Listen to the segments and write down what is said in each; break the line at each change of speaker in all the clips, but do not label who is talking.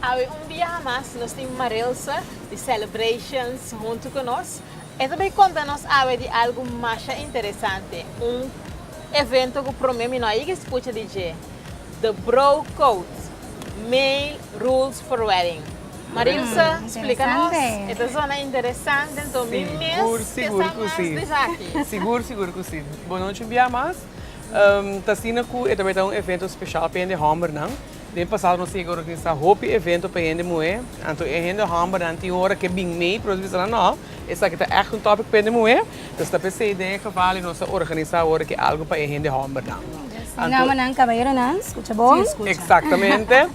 Awe un biaha mas nos tin Marilsa di Celebrations huntu ku nos. E ta bai konta nos awe di algu masha interesante, un evento ku promé mi no a yega eskucha di dje, The Bro Code, Male Rules for Wedding. Marilsa splika nos, e ta zona interesante denton mi mes ke sa mas di esaki. Sigur, sigur ku si. Bonochi un biaha mas. Ta asina cu e ta bay ta un evento special pa hende hombernan. Den pasado nos tin yega organisa hopi evento pa hende muhe. Anto e hende hombernan tin hora ke bin mey, pero nos bisa nan no, esaki ta echt un topic pa hende muhe. Pues ta pesey den e geval y nos a organisa awor aki algo pa e hende hombernan. Anto. Damanan, caballeronan, scucha bon. Exactamente.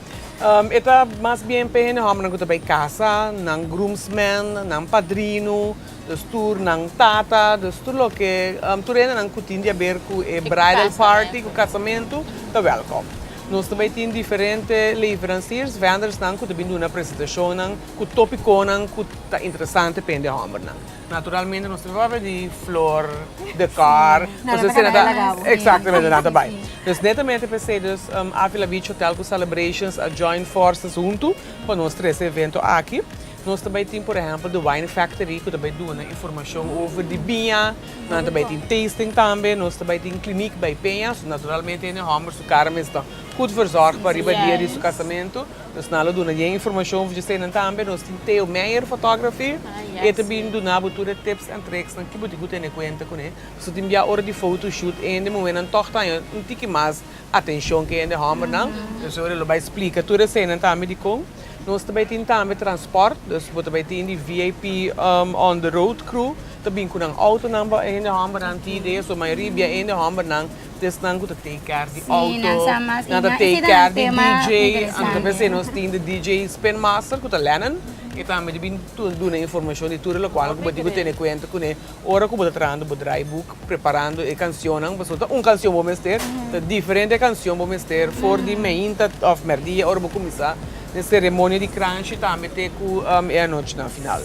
E ta mas bien pa e hende hombernan cu ta bay casa, nan groomsmen, nan padrino. Dus tur nan tata, dus tur loke, tur hendenan ku tin di aber ku e bridal party, ku kasamentu, ta wèlkòm. Nos ta bai tin diferente leveransiers, vendors-nan ku ta bin duna presentashonnan ku topikonan ku ta interesante pa hende hòmbernan. Naturalmente nos ta bin papia di flor, dekòr, pasobra esei nan ta, eksaktamente, nan ta bai. Dus netamente p'esei dus Avila Beach Hotel ku Celebrations a join forces huntu pa nos trese e evento aki. Nos ta bai tin por ehempel The Wine Factory cu ta bai duna informacion over di biña, nan ta bai tin tasting tambe, nos ta bai tin clinic bai Peña, so naturalmente ene homber su cara mes ta good verzorg pa riba dia di su casamento, dus nan lo duna dje informacion over djesenan tambe, nos tin Theo Meijer Photography, e ta bin duna bo tur e tips and tricks nan ki bo tin cu tene cuenta cune, pasobra tin bia ora di photo shoot ende muhenan toch ta haña un tiki mas atencion cu ende hombernan, entonces ora e lo bai splica tur esenan tambe dicon. Nos ta bay tin tambe transport, dus bo ta bay tin di VIP on the road crew ta bin cu nan autonan pa hende hombernan ti idea, so mayoria bia hende hombernan ta esnan cu ta take care di auto, nan ta take care di DJ, anto p'esey nos tin the DJ spin master cu ta Lennon, e tambe ta bin duna informacion di tur e locualnan cu bo tin cu tene cuenta cune. Ora ku bo ta trahando bo draaiboek, preparando e kansionnan, pasobra ta un kansion bo mester, ta diferente kansion bo mester for di meinta òf mèrdia ora bo kuminsá den seremonia di kranchi tambe te ku e anochi na final.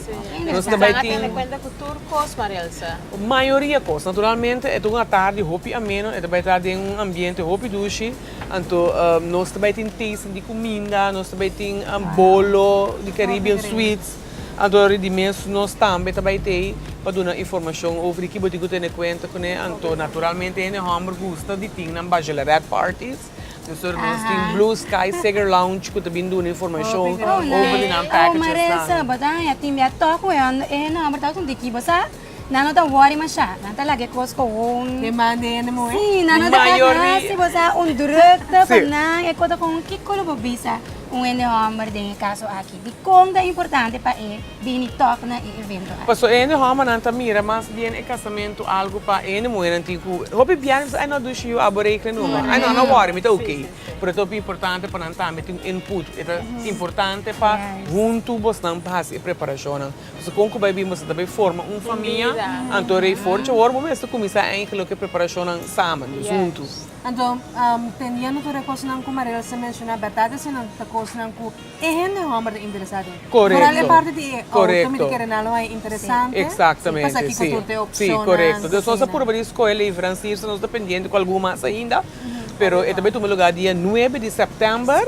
Nos ta bai tin. Tene kuenta ku tur kos, Maria Elsa? Mayoria kos. Naturalmente e ta un atardi hopi ameno, e ta bai ta den un ambiente hopi dushi, anto nos ta bai tin tasting di kuminda, nos ta bai tin bolo di Caribbean sweets. Anto ri di mes nos tambe ta bai tei pa duna informashon over di ki bo tin ku tene kuenta kuné. Anto naturalmente hende hòmber gusta di tin nan bachelorette parties. Pasobra nos tin Blue Sky Seger Lounge ku ta bin duna informashon over di nan packages nan. Oh, Maresa, bo ta haña tin mia tòg wei. E hende hòmber ta sinti ki bo sa. Nan no ta worry masha, nan ta laga e kos koon. Den mande e nemu eh. Sí, nan no ta hek hasi, bo sa un drukte pa nan, e kos ta koon. Kiko lo bo bisa un hende hòmber den e kaso aki? Dikon ta importante pa e bini tòg na e evento aki? Pasobra e hende hòmbernan ta mira mas bien e kasamentu algu pa e hende muhernan tin ku hopi biaha. Mi bisa, ai no a dushi yu, a bo regle nunba. Ai no, no worry, mi ta oké. Pero ta hopi importante pa nan tambe tin un input. E ta importante pa huntu bosnan hasi e preparashonnan. Nos ta con cu bay bin boso ta bay forma un famia anto rey forchi awor bo mester cuminsa eindig loke preparacionnan samen dus hunto. Anto teniendo tur e cosnan cu Maria Elsa menciona berdad esenan ta cosnan cu e hende homber ta interesa den vooral e parti di e auto mi di kere nan lo haya interesante pas aki cu tur ta e opcionnan cu asina. Purba di scoe leveranciers nos ta pendiente cu algun mas ainda pero e ta bay tuma lugar dia nuebe di september.